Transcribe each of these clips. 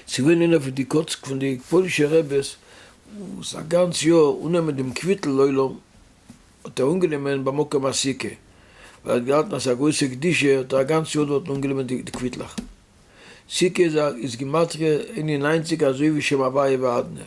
ס'געווען איינער פון די קאצק פון די פוילישע רעבעס וואס א גאנץ יאר אננעמען דעם קוויטל עולם האט ער אנגענומען במקום הסוכה ווייל ער האט געהאלטן אז ס'איז א גרויסע קדושה האט ער א גאנץ יאר דארטן אנגענומען די קוויטלעך. סוכה איז גימטריא אין און ניינציג אזוי ווי שם הוויה ואדנע.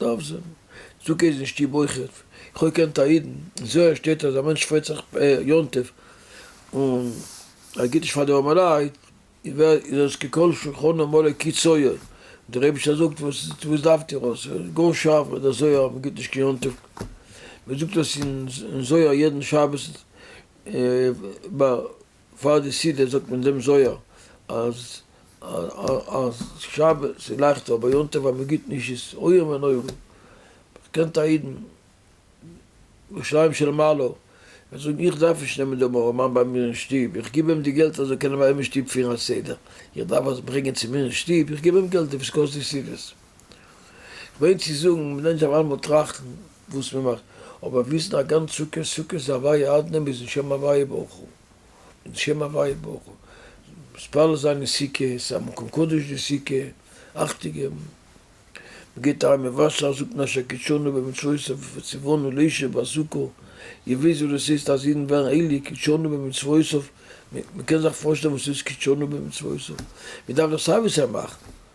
דארף זיין צדקה איז אין שטוב אויכעט, איך האב געקענט א אידן אין זוהר שטייט אז א מענטש פרייט זיך יום טוב און ער גיבט נישט פאר די ארמעלייט איז עס ככל שולחנו מלא כי צוייר, דער אייבישטער זאגט וואס וואס דארפט איר עס איז גאר שארף ביי די זוהר אז מען גיבט נישט קיין יום טוב, מען זאגט עס אין זוהר יעדן שבת ביי. פאר די סידור זאגט מען דעם זוהר אז אז שבת איז לייכטער אבער יום טוב אז מען גיבט נישט איז איום ונורא, קענט א אידן ירושלים של מעלה וועט זאגן איך דארף נישט נעמען דעם ארעמאן ביי מיר אין שטוב איך גיב אים די געלט ער זאל קענען ביי אים אין שטוב פירן א סדר, איך דארף עס ברענגען צו מיר אין שטוב איך גיב אים געלט וואס קאסט די סידור. כ'מיין צו זאגן, מ'לערנט אויף איינמאל טראכטן וואס מ'מאכט, אבער וויסן א גאנץ סוכה סוכה איז אביי אדני מיט'ן שם הוויה ברוך הוא, מיט'ן שם הוויה ברוך הוא, מתפלל זיין אין סוכה, ס'איז א מקום קדוש די סוכה, אכטונג געבן, מ'געבט אריין מיט וואסער, זאגט מען אשר קידשנו במצוותיו וציוונו לישב בסוכה, איר וויסט וואס דאס הייסט אז אידן ווערן הייליג, קידשנו במצוותיו, מ'קען זיך פארשטעלן וואס ס'הייסט קידשנו במצוותיו, מ'דארף דאך סיי ווי סיי מאכן,